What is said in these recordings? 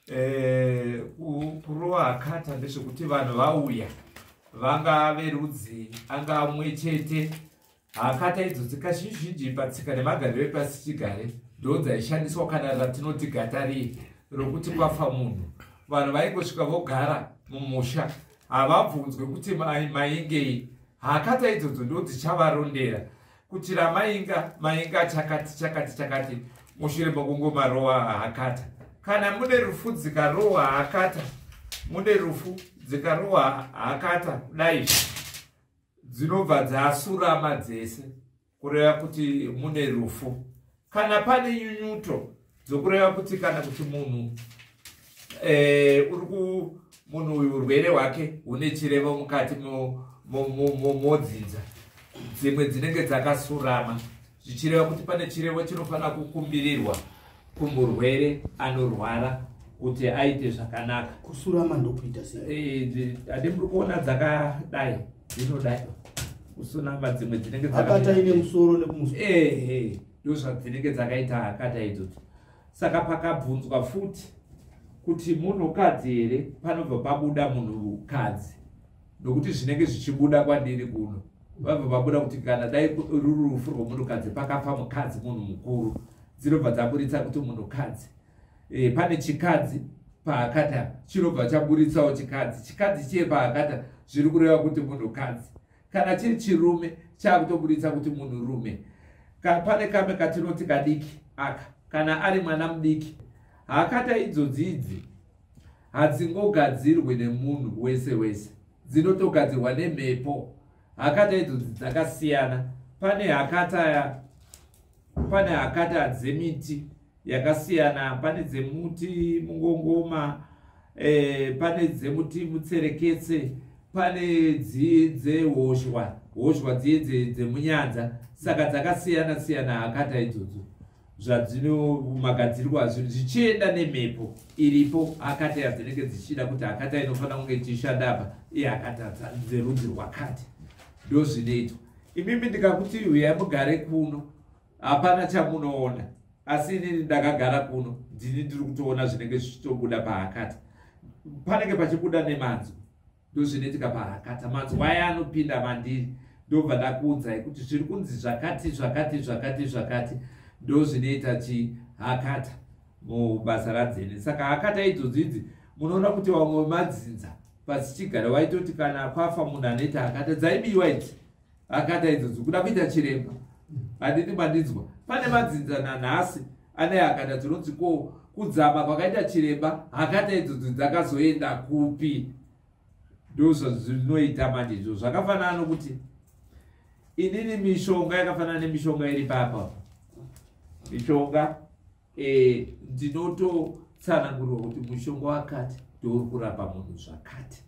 eh, kurowa akata ndezvekuti vanhu vauya vanga verudzi anga umwe chete hakata idzo dzikazhinji patsika nemagariro epasi chigare ndo dzaishandiswa kana ratinoti gatari rokuti kwafa munhu vanhu vaingosvika vogara mumusha havabvunzwe kuti maingei hakata idzodzo ndo dzichavarondera kuti ramainga mainga chakati chakati chakati mushure mokungomarowa hakata kana mune rufu dzikarowa hakata mune rufu dzikarowa hakata kudai dzinobva dzasurama dzese kureva kuti mune rufu kana pane nyunyuto dzokureva kuti kana kuti munhu eh, uri ku munhu uyu urwere hwake hune chirevo mukati modzinza dzimwe dzinenge dzakasurama zvichireva kuti pane chirevo chinofanira kukumbirirwa kumurwere anorwara kuti aite zvakanaka kusurama ndokuita sei eh, ade muri kuona dzakadai dzinodai kusunama dzimwe dzinenge hakata ine musoro nekumusoro ehe ndozvadzinenge dzakaita hakata idzodzo saka pakabvunzwa futi kuti munhukadzi here panobva pabuda munhukadzi nokuti zvinenge zvichibuda kwandiri kuno vabva vabuda kuti kana dai ruri rufu rwomunhukadzi pakafa mukadzi munhu mukuru dzinobva dzaburitsa kuti munhukadzi e, pane chikadzi paakata chinobva chaburitsawo chikadzi chikadzi chiye paakata zviri kureva kuti munhukadzi kana chiri chirume chaakutoburitsa kuti munhurume ka, pane kamwe katinoti kadiki aka kana ari mwana mudiki hakata idzodzi idzi hadzingogadzirwe nemunhu wese wese dzinotogadzirwa nemhepo hakata idzodzi dzakasiyana pane hakata pane hakata dzemiti yakasiyana pane dzemuti mungongoma e, pane dzemuti mutsereketse pane dziye dzehoshwa hoshwa dziye dzemunyanza saka dzakasiyana siyana hakata idzodzo zvadzinoumagadzirirwa zvinhu zvichienda nemhepo iripo akata yadzinenge dzichida kuti akata inofanira kunge ichishanda apa iye akata dzerudzi rwakati ndozvinoitwa imimi ndikakuti huyai mugare kuno hapana chamunoona asi inini ndakagara kuno ndini ndiri kutoona zvinenge zvichitobuda pahakata panenge pachibuda nemanzwi ndozvinoitika pahakata manzwi aya anopinda mandiri ndobva ndakuudzai kuti zviri kunzi zvakati zvakati zvakati zvakati ndozvinoita chihakata mubasa radzene saka hakata idzodzi idzi munoona kuti vamwe vemadzinza pasichigara vaitoti kana kwafa munhu anoita hakata dzaibiwa idzi akata idzodzo kuda kuita chiremba handiti mandidzwa pane madzinza nanhasi ane hakata tinonzi ko kudzama kwakaita chiremba hakata idzodzo dzakazoenda kupi ndozvazvinoita manje izvo zvakafanana nokuti inini mishonga yakafanana nemishonga iri papa mishonga Eh, ndinototsanangurwa kuti mushonga wakati ndouri kurapa munhu zvakati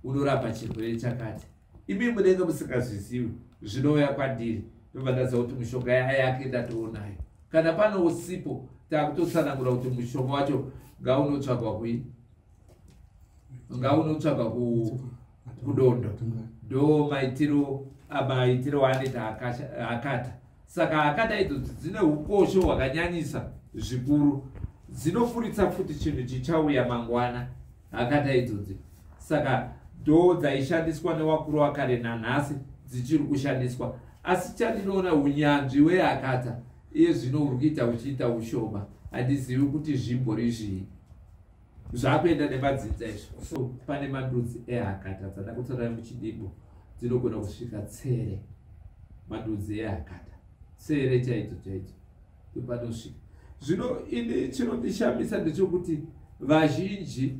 unorapa chirwere chakati imi munenge musingazizivi zvinouya kwandiri ndobvandaza kuti mushonga yaya yake ndatoonayo kana pano usipo takutotsanangura kuti mushonga wacho ngaunotsvagwa kuini unga unotsvaga kudondo do maitiro maitiro waanoita akata saka akata idzo dzine ukosho hwakanyanyisa zvikuru dzinofuritsa futi chinhu chichauya mangwana akata idzodzi saka do dzaishandiswa newakuru wakare nanhasi dzichiri kushandiswa asi chandinoona unyanzvi weakata iye zvino uri kuita uchiita ushoma handizivi kuti zvimbori zvii zvakuenda nemadzinza izvo so pane mandudzi ehakata dzada kutora muchidimbo dzinogona kusvika tsere mandudzi ehakata tsere chaidzo chaidzo ndopanosvika zvino ini chinondishamisa ndechokuti vazhinji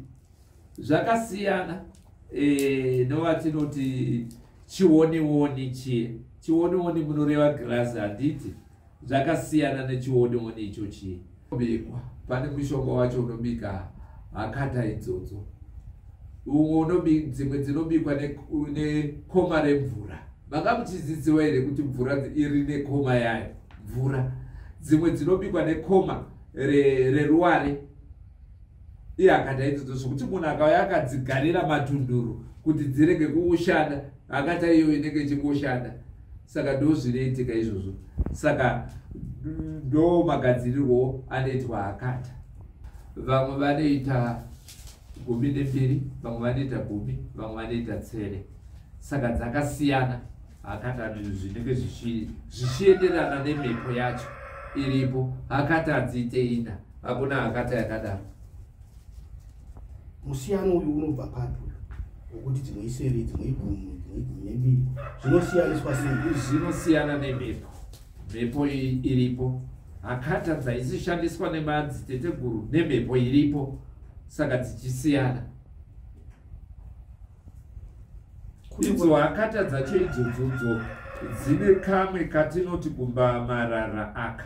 zvakasiyana e, eh, novatinoti chionioni chie chionioni munoreva girazi handiti Zvakasiyana nechionioni ichochi. Bikwa pane mushonga wacho unobika hakata idzodzo. Umwe unobika dzimwe dzinobikwa nekoma remvura. Manga muchizidziwa here kuti mvura iri nekoma yayo? Mvura dzimwe dzinobikwa nekoma reruware re iye akadaidzidza zvokuti munhu akauya akadzigarira matunduru kuti dzirege kuushanda akata iyoyo inenge ichingoshanda saka ndozvinoitika izvozvo saka ndo magadzirirwo anoitwa akata vamwe vanoita gumi nembiri vamwe vanoita gumi vamwe vanoita tsere saka dzakasiyana akata zvinenge zvichienderana nemhepo yacho iripo akata dziite ina hakuna akata yakadaro musiyano uyu unobva papi uyu wekuti dzimwe isere dzimwe igumu dzimwe igumu nemiri zvinosiyaniswa sei zvinosiyana nemhepo mhepo iripo hakata dzaisishandiswa nemadziteteguru nemhepo iripo saka dzichisiyana idzo hakata dzacho idzodzo dzine kamwe katinoti kumba marara aka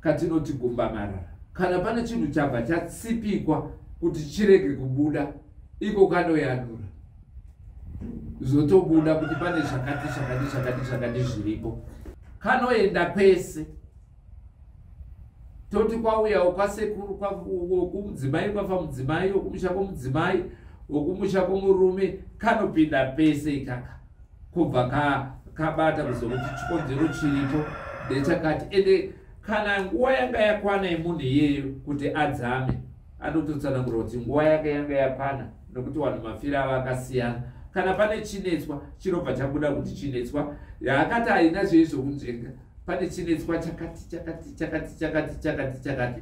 katinoti gumbamarara kana pane chinhu chabva chatsipikwa kuti chirege kubuda iko kanoyanura zvotobuda kuti pane zvakati zvakati zvakati zvakati zviripo kanoenda kwese toti kwauyawo kwasekuru kumudzimai kwafa mudzimai okumusha kwomudzimai okumusha kwomurume kanopinda pese ikaka kubva kakabata kuzokuti chikonzero chiripo ndechakati ende kana nguva yanga yakwana yemunhu iyeyo kuti adzame anototsanangura kuti nguva yake yanga yakwana nokuti vanhu mafira ava akasiyana kana pane chinetswa chinobva chabuda kuti chinetswa yaakati haina zvei zvokunzvenga pane chinetswa chakati chakati chakati chakati chakati chakati